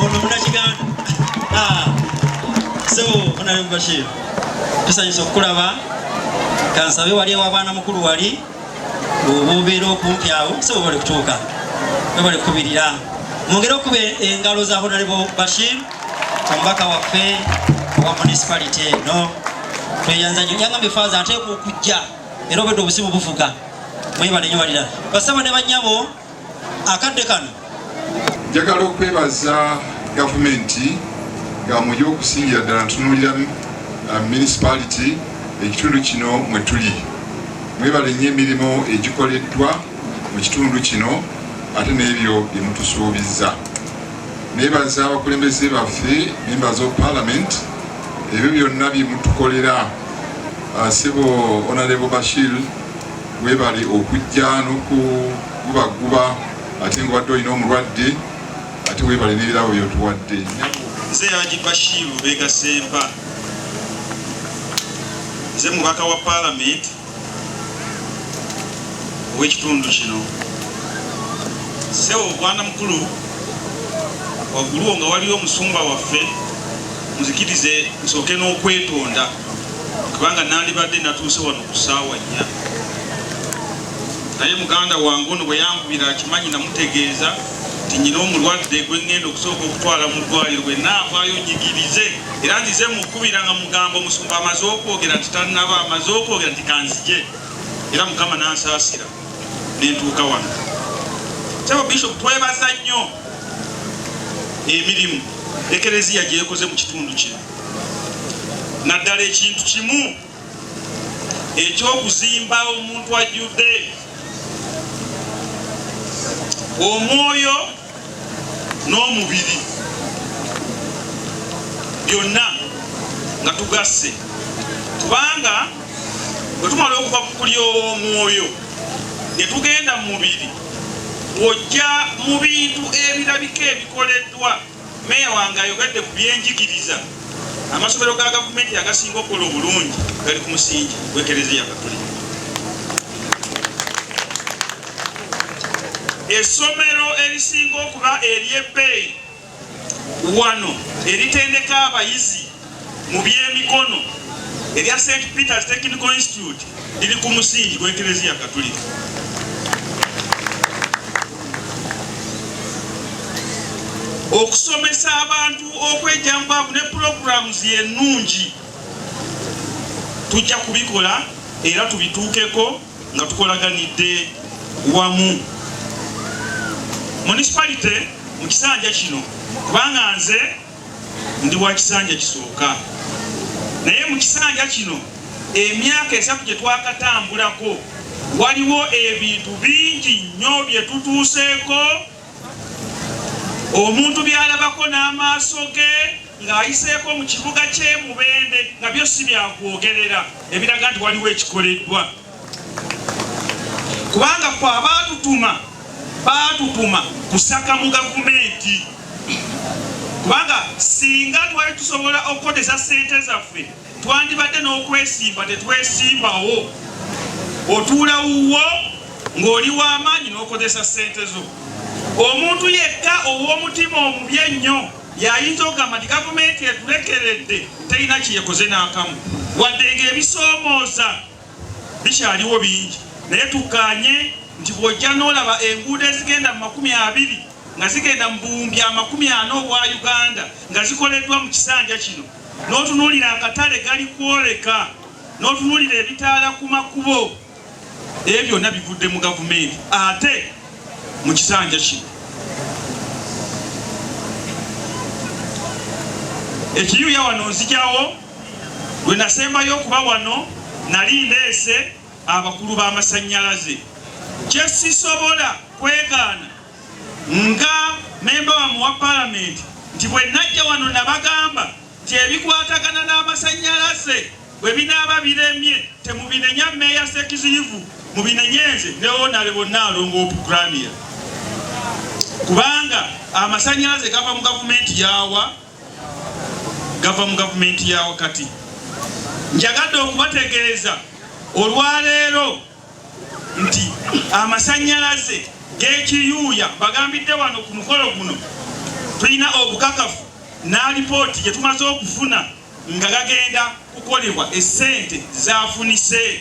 ono munakiganda ah. sebo onale mubashir tusanyusa okukulaba kansabe wali ewabwana mukulu wali obubeera okumpi awo sebo bali kutuuka bali kukubirira mwongere okuba engalo za honalebo bashir omubaka waffe owa municipality eno tweyanza nyo yangambye faaza ateeka okujja era obedde obusimu buvuga mwebale nyo balira basebo ne banyabo akadde kano. Njagala okwebaza gavumenti nga mu y'okusingira ddala ntunuulira uh, municipality ekitundu kino mwe tuli mwebale nnyo emirimu egikoleddwa mu kitundu kino ate n'ebyo bye mutusuubizza nebaza abakulembeze baffe memba zo parliament ebyo byonna bye mutukolera uh, sebo onalebo bashir Webale okujja nokugubagguba ate nga obadde olina omulwadde ate webale n'ebirabo byotuwadde. Nze Haji Bashir Lubega Sempa, nze mubaka wa palamenti ow'ekitundu kino. Ssewo Bwana Mukulu, wagguluwo nga waliyo omusumba waffe muzikirize nsooke n'okwetonda. kubanga nandibadde natuuse wano ku ssaawa nnya naye muganda wange ono bwe yankubira akimanyi namutegeeza nti nyina omulwadde gwe ŋŋenda okusooka okutwala mu ddwaliro bwe naavaayo nyigirize era nzize mukubira nga mugamba omusumba amaze okwogera nti tannaba amaze okwogera nti kanzije era mukama nansaasira nentuuka wano saba bishop twebaza nnyo emirimu ekereziya gyekoze mu kitundu kino naddala ekintu kimu eky'okuzimba omuntu ajjudde omwoyo n'omubiri byonna nga tugasse kubanga bwe tumala okuva ku kulya omwoyo ne tugenda mu mubiri ojja mu bintu ebirabika ebikoleddwa Meeya wange ayogedde ku byenjigiriza. Amasomero ga gavumenti agasinga okukola obulungi gali ku musingi gw'ekereziya Katulika. Essomero erisinga okuba ery'ebbeeyi wano eritendeka abayizi mu by'emikono erya St Peter's Technical Institute liri ku musingi gw'Eklezia Katulika. Okusomesa abantu okwejambaavu ne programs ennungi tujja kubikola era tubituukeko nga tukolaganidde wamu. Municipality mu kisanja kino kubanga nze Ndi wa kisanja kisooka naye mu kisanja kino emyaka esatu gye twakatambulako waliwo ebintu bingi nnyo bye tutuuseeko omuntu byalabako n'amaaso ge ng'ayiseeko mu kibuga ky'e Mubende nga byo si byakwogerera ebiraga nti waliwo ekikoleddwa. kubanga kwe abaatutuma baatutuma kusaka mu gavumenti kubanga singa twali tusobola okukozesa sente zaffe twandibadde n'okwesimba tetwesimbawo otuula wuwo ng'oli w'amaanyi n'okozesa sente zo omuntu yekka ow'omutima omubi ennyo yayinza okugamba nti gavumenti etulekeredde terina kyeyekoze n'akamu wadde ng'ebisoomooza Bikyaliwo bingi naye tukkaanye nti bw'ojja n'olaba enguudo ezigenda mu makumi abiri nga zigenda mu buwumbi amakumi ana obwa Uganda nga zikoleddwa mu kisanja kino, n'otunuulira akatale gali kwoleka, n'otunuulira ebitaala ku makubo, ebyo byonna bivudde mu gavumenti ate mu kisanja kino. Ekiyuya wano nzijawo. Lwe nasembayo okuba wano nali ndeese abakulu b'amasannyalaze. Kye sisobola kwegaana nga mmemba wammwe wa Palamenti nti bwe najja wano nabagamba nti ebikwatagana n'amasannyalaze bwe binaaba biremye temubinenya Mmeeya Ssekiziyivu, mubinenye nze ne Onalebo Nnaalongo Opukramia kubanga amasannyalaze gava mu gavumenti y'awa. gava mu gavumenti ya wakati. Njagadde okubategeeza olwaleero nti amasannyalaze g'ekiyuuya bagambidde wano ku mukolo guno tulina obukakafu n'alipooti gye tumaze okufuna nga gagenda kukolebwa essente zafunise.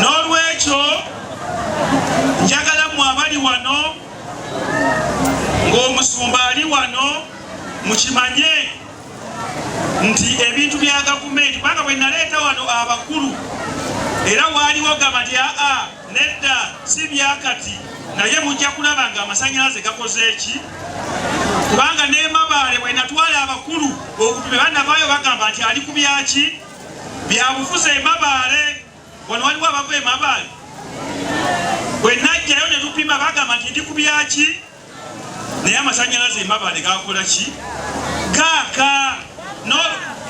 n'olwekyo njagala mwe abali wano ng'omusumba ali wano mukimanye nti ebintu bya gavumenti kubanga bwe naleeta wano abakulu era waaliwo gaba lya a Nedda si byakati naye mujja kulaba nga amasanyalaze gakoze ki kubanga nemabaale bwenatwala abakulu okutume banavaayo bagamba nti ali ku byaki byabufuzi emabaale wano waliwo abava emabaale bwenajjayo netupima bagamba nti ndi ku byaki naye amasanyalaze emabaale gakola ki gaaka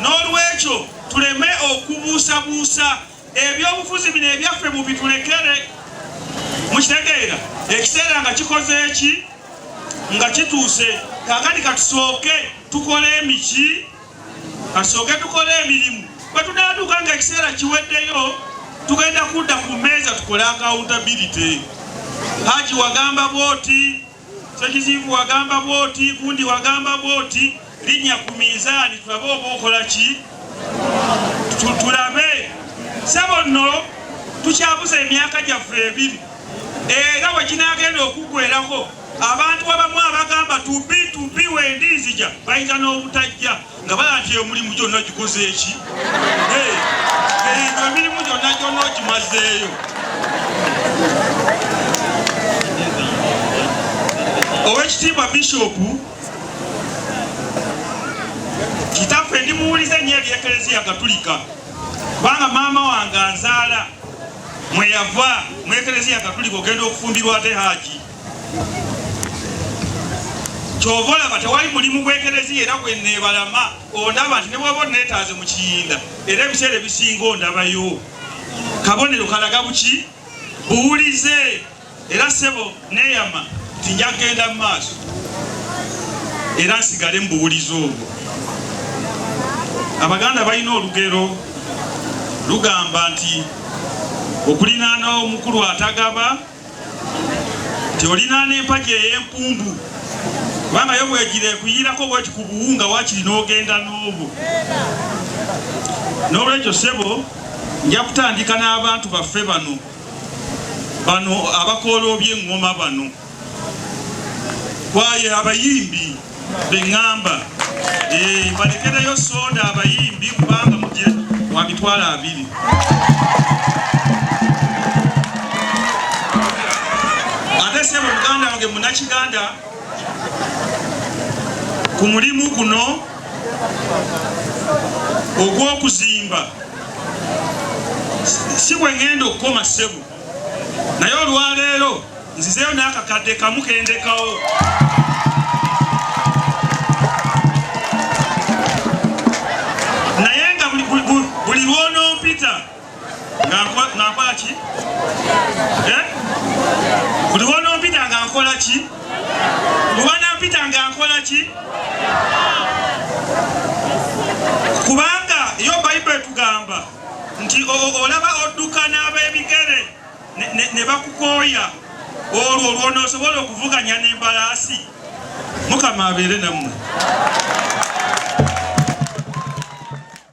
n'olwekyo tuleme okubuusabuusa Ebyobufuzi bino ebyaffe mubitulekere, mukitegeera. Ekiseera nga kikoze ki nga kituuse. Kakati katusooke tukole emiki, katusooke tukole emirimu. Bwe tunaatuuka nga ekiseera kiweddeyo, tugenda kudda ku mmeeza tukole accountability. Haji wagamba bwoti Ssekiziyivu wagamba bwoti, gundi wagamba bwoti, linnya ku minzaani tulabe oba okola ki? Tulabe. Ssebo nno tukyabuza emyaka gyaffe ebiri era we ginaagenda okuggwerako abantu abamu abagamba tubi tubi wendi nzija bayinza n'obutajja. nga bala nti emulimu gyonna gikozeeki nga emirimu gyonna gyonna ogimazeeyo owekitiibwa bishopu kitaffe ndi muwulize nnyo ebyekereziya katulika kubanga maama wange azaala mweyava mwekereziya katulika ogenda okufumbirwa ate haji kyova olaba tewali mulimu gwekereziya era gwenebalama ondaba nti nebwaba onetaaze mu kiyinda era ebiseera ebisinga ondabayo kabonero kalaga buki buwulize era sebo neyama nti nja kugenda mu maaso era nsigale mu buwulize obwo abaganda balina olugero lugamba nti okulinaana omukulu atagaba nti olinaana empagi ey'empumbu kubanga yo bwegira ekuyiirako bweti ku buwunga wakiri n'ogenda n'obwo n'olwekyo ssebo nja kutandika n'abantu baffe bano bano abakoola oby'eŋŋoma bano kwaye abayimbi bengamba eh, balekereyo soda abayimbi kubanga muje wa mitwalo abiri ate sebo muganda wange munakiganda ku mulimu guno ogw'okuzimba si bwe ngenda okukoma sebo naye olwaleero nzizeyo n'akakadde kamu kendekawo naye nga buli lwonompita ngankola ki eh? buli lwonompita nga nkola ki lwanampita nga nkola ki kubanga yo bayibuli etugamba nti olaba odduka n'ab'ebigere ne bakukooya olwo lw'onoosobola okuvuganya n'embalaasi mukama abeere nammwe